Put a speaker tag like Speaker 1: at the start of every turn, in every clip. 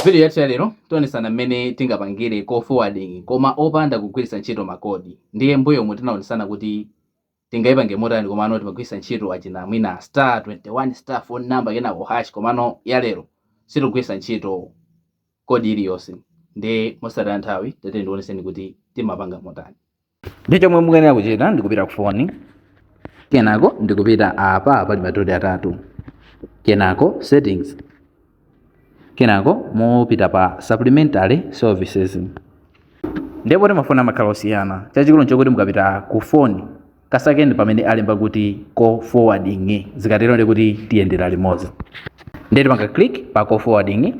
Speaker 1: Vidiyo yathu yalero tionetsana mmene tingapangire call forwarding koma opanda kugwiritsa ntchito ma code. Ndiye m'mbuyomu tinaonetsana kuti tingaipange motani komano timagwiritsa ntchito achina mwina star 21 star phone number kenako hash komano yalero sitikugwiritsa ntchito code iliyonse. Ndiye mosataya nthawi tatiyeni ndikuonetseni kuti timapanga motani. ndiye chomwe mukuyenera kuchita ndikupita ku foni kenako ndikupita apa pali madoti atatu kenako settings kenako mupita pa supplementary services ndi poti mafoni amakhala osiyana chachikulu nchokuti mukapita ku foni kasakeni pamene alemba kuti call forwarding zikatero ndekuti tiyendera limodzi ndiye timapanga click pa call forwarding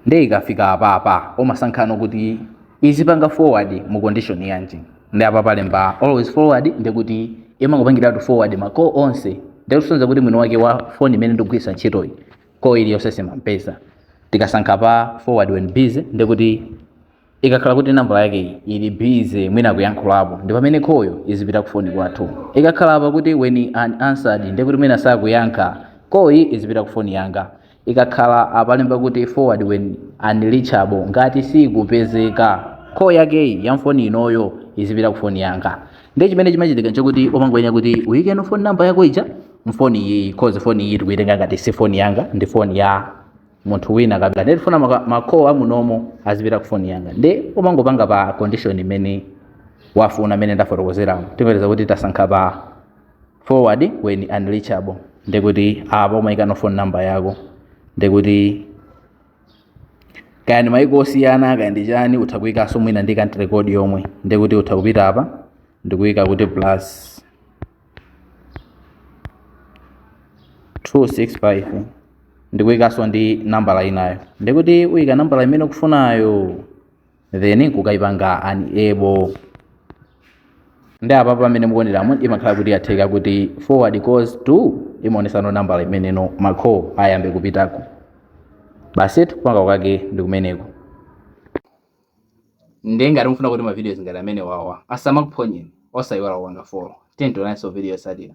Speaker 1: nde ukafika apapa umasankhano kuti izipanga forward mu condition yanji nde apa palemba always forward ndekuti imangopangiratu forward ma call onse nde kusonyeza kuti mwini wake wa phone imene ndikugwiritsa ntchitoyi call iliyonse simampeza tikasankha pa forward when busy ndekuti ikakhala kuti nambala yake ili busy mwina akuyankhulapo ndi pamene call-yo izipita ku foni kwathu ikakhala apa kuti when unanswered nde kuti mwina sakuyankha call-yi izipita ku foni yanga ikakhala apalemba kuti forward when unreachable ngati sikupezeka call yakeyi ya mfoni inoyo izipita ku foni yanga nde chimene chimachitika nchakuti umangoyenera kuti uyikeno foni namba yako ija mfoni iyi cause foni iyi tikuyitenga ngati si foni yanga ndi foni ya munthu wina kabila ndiye tifuna maka- ma call amunomo azipita kufoni yanga nde umangopanga pa condition imene wafuna imene ndafotokozeramo tiyerekeza kuti tasankha pa forward when unreachable ndekuti apa umayikano phone number yako ndekuti kaya ndi mayiko osiyana kaya ndi chani utha kuyikanso mwina ndi country code yomwe ndekuti utha kupita apa ndikuyika kuti plus 265 ndikuyikanso ndi nambala inayo ndekuti uyika nambala imene ukufunayo then nkukayipanga enable nde apa pamene mukuoneramu imakhala kuti yatheka kuti forward calls to imaonesano nambala imene no ma call ayambe kupitako basi kupanga kwake ndi kumeneko ndiye ngati mufuna kuti ma videos ngati amene wawa asamakuphonyeni osayiwala kupanga follow tiyeni tionaninso mu video yotsatira